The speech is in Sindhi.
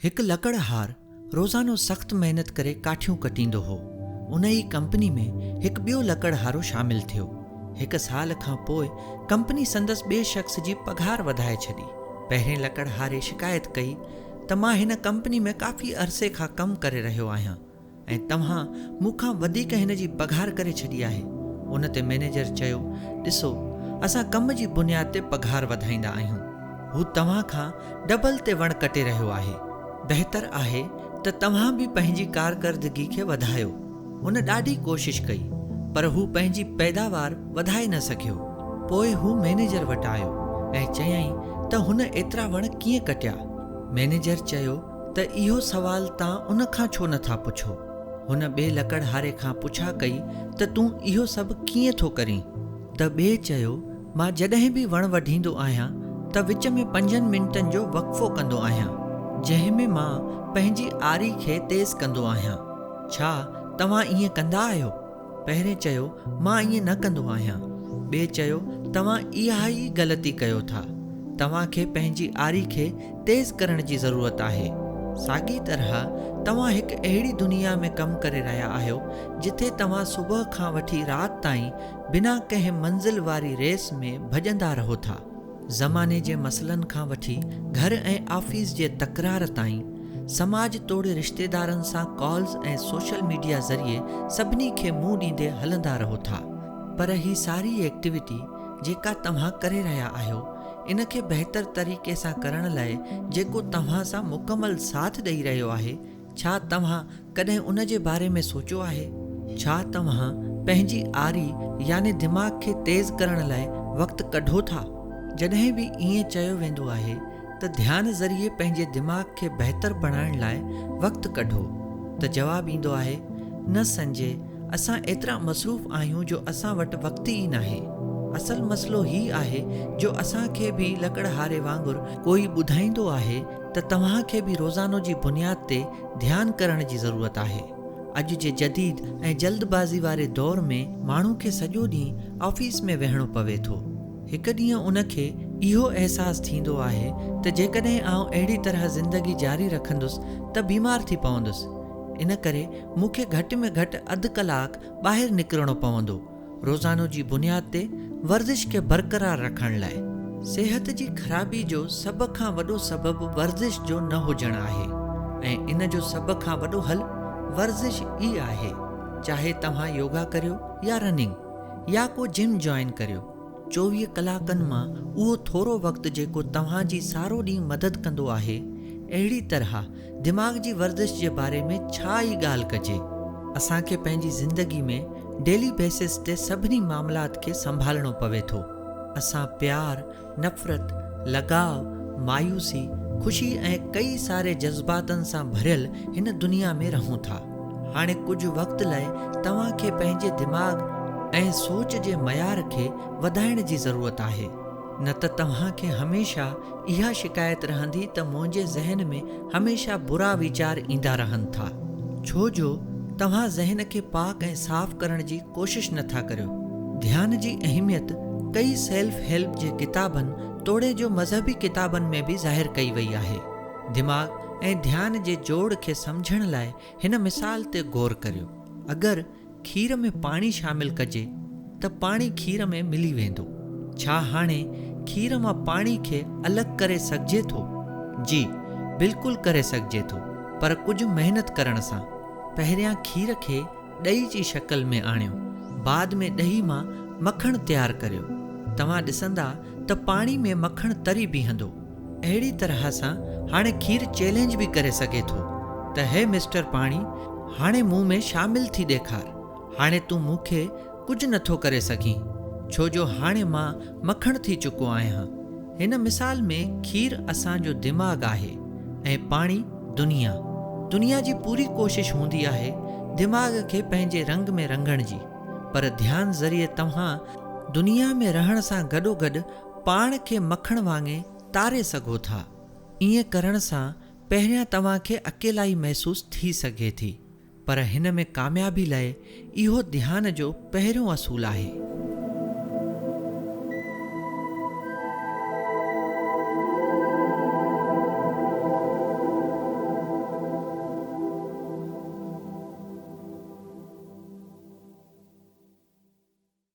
هڪ لڪڙهار روزانو سخت محنت ڪري ڪاٺيون ڪٽيندو هو. ان ئي ڪمپني ۾ هڪ ٻيو لڪڙهارو شامل ٿيو. هڪ سال کان پوء ڪمپني سندس ٻئي شخص جي پگهار وڌائي ڇڏي. پهرين لڪڙهاري شڪايت ڪئي ته مان هن ڪمپني ۾ ڪافي عرصي کان ڪم ڪري رهيو آهيان. ۽ توهان مون کان وڌيڪ هن جي پگهار ڪري ڇڏي آهي. ان تي مئنيجر چيو، ڏسو، اسان ڪم جي بنياد تي پگهار وڌائيندا آهيون. هو توهان کان ڊبل تي وڻ ڪٽي رهيو آهي. بهتر آهي ته توهان به پنهنجي ڪارڪردگي کي وڌايو. هن ڏاڍي ڪوشش ڪئي، پر هو پنهنجي پيداوار وڌائي نه سگهيو. پوء هو مئنيجر وٽ آيو ۽ چيائين ته هن ايترا وڻ ڪيئن ڪٽيا؟ مئنيجر چيو. ته اهو سوال تان ان کان ڇو نه ٿا پڇو؟ هن ٻئي لڪڙهاري کان پڇا ڪئي ته تون اهو سڀ ڪيئن ٿو ڪرين؟ ته ٻئي چيو، مان جڏهن به وڻ وڍيندو آهيان ته وچ ۾ پنجن منٽن جو وقفو ڪندو آهيان، جنهن ۾ مان پنهنجي آري کي تيز ڪندو آهيان. ڇا توهان ائين ڪندا آهيو؟ پهرين چيو، مان ائين نه ڪندو آهيان. ٻئي چيو، توهان اها ئي غلطي ڪيو ٿا. توهان کي پنهنجي آري کي تيز ڪرڻ جي ضرورت آهي. ساڳي طرح توهان هڪ اهڙي دنيا ۾ ڪم ڪري رهيا آهيو جٿي توهان صبح کان وٺي رات تائين بنا ڪنهن منزل واري ريس ۾ ڀڄندا رهو ٿا. زماني جي مسئلن کان وٺي گهر ۽ آفيس جي تڪرار تائين، سماج توڙي رشتيدارن سان ڪالز ۽ سوشل ميڊيا ذريعي سڀني کي منهن ڏيندي هلندا رهو ٿا پر هي ساري ايڪٽيوٽي جيڪا توهان ڪري رهيا آهيو ان کي بهتر طريقي سان ڪرڻ لاء جيڪو توهان سان مڪمل ساٿ ڏئي رهيو آهي ڇا توهان ڪڏهن ان جي باري ۾ سوچيو آهي؟ ڇا توهان پنهنجي آري يعني دماغ کي تيز ڪرڻ لاء وقت ڪڍو ٿا؟ جڏهن به ائين چيو ويندو آهي ته ڌيان ذريعي پنهنجي دماغ کي بهتر بڻائڻ لاء وقت ڪڍو ته جواب ايندو آهي، نه سنجي، اسان ايترا مصروف آهيون جو اسان وٽ وقت ئي ناهي. اصل مسئلو هي آهي جو اسان کي به لڪڙهاري وانگر ڪوئي ٻڌائيندو آهي ته توهان کي به روزانو جي بنياد تي ڌيان ڪرڻ جي ضرورت آهي. اڄ جي جديد ۽ جلد بازي واري دور ۾ ماڻهو کي سڄو ڏينهن آفيس ۾ ويهڻو پوي ٿو. هڪ ڏينهن ان کي اهو احساس ٿيندو آهي ته جيڪڏهن آئون اهڙي طرح زندگي جاري رکندس ته بيمار ٿي پوندس. ان ڪري مون کي گهٽ ۾ گهٽ اڌ ڪلاڪ ٻاهر نڪرڻو پوندو. روزانو جي بنياد تي ورزش کي برقرار رکڻ لاء. صحت جي خرابي جو سڀ کان وڏو سبب ورزش جو نه هجڻ آهي ۽ ان جو سڀ کان وڏو حل ورزش ئي آهي چاهي توهان يوگا ڪريو يا رننگ يا ڪو جم جوائن ڪريو، چوويهه ڪلاڪن مان اهو ٿورو وقت جيڪو توهان جي سارو ڏينهن مدد ڪندو آهي اهڙي طرح دماغ جي ورزش جي باري ۾ ڇا ئي ڳالهه ڪجي. اسان کي پنهنجي زندگي ۾ ڊيلي بيسس تي سڀني معاملات کي سنڀالڻو پوي ٿو. اسان پيار، نفرت، لڳاء، مايوسي، خوشي ۽ ڪئي ساري جذباتن سان ڀريل هن دنيا ۾ رهون ٿا. هاڻي ڪجهه وقت لئه توهان کي پنهنجي دماغ ۽ سوچ جي معيار کي وڌائڻ جي ضرورت آهي. نه ته توهان کي هميشه اها شڪايت رهندي ته منهنجي ذهن ۾ هميشه برا ويچار ايندا رهن ٿا، ڇو جو توهان ذهن کي پاڪ ۽ صاف ڪرڻ جي ڪوشش نه ٿا ڪريو. ڌيان جي اهميت ڪئي سيلف هيلپ جي ڪتابن توڙي جو مذهبي ڪتابن ۾ به ظاهر ڪئي وئي آهي. دماغ ۽ ڌيان جي جوڙ کي سمجهڻ لاء هن مثال تي غور ڪريو. اگر کير ۾ پاڻي شامل ڪجي ته پاڻي کير ۾ ملي ويندو. ڇا هاڻي کير مان پاڻي کي الڳ ڪري سگهجي ٿو؟ جي بلڪل ڪري سگهجي ٿو پر ڪجهه محنت ڪرڻ سان. پهريان کير کي ڏهي جي شڪل ۾ آڻيو بعد ۾ ڏهي مان مکڻ تيار ڪريو. توهان ڏسندا ته پاڻي ۾ مکڻ تري بيهندو. اهڙي طرح سان هاڻي کير چئلينج به ڪري سگهي ٿو ته هي مسٽر پاڻي هاڻي مون ۾ شامل ٿي ڏيکار هاڻي تون مون کي ڪجهه نه ٿو ڪري سگهين ڇو جو هاڻي مان مکڻ ٿي چڪو آهيان هن مثال ۾ کير اسان جو دماغ آهي ۽ پاڻي دنيا دنيا جي پوري ڪوشش هوندي آهي دماغ کي پنهنجي رنگ ۾ رنگڻ جي پر ڌيان ذريعي توهان دنيا ۾ رهڻ سان گڏوگڏ پاڻ کي مکڻ وانگي تاري سگهو ٿا. ائين ڪرڻ سان پهريان توهان کي اڪيلائي محسوس ٿي سگهي ٿي، پر هن ۾ ڪاميابي لئه اهو ڌيان جو پهريون اصول آهي.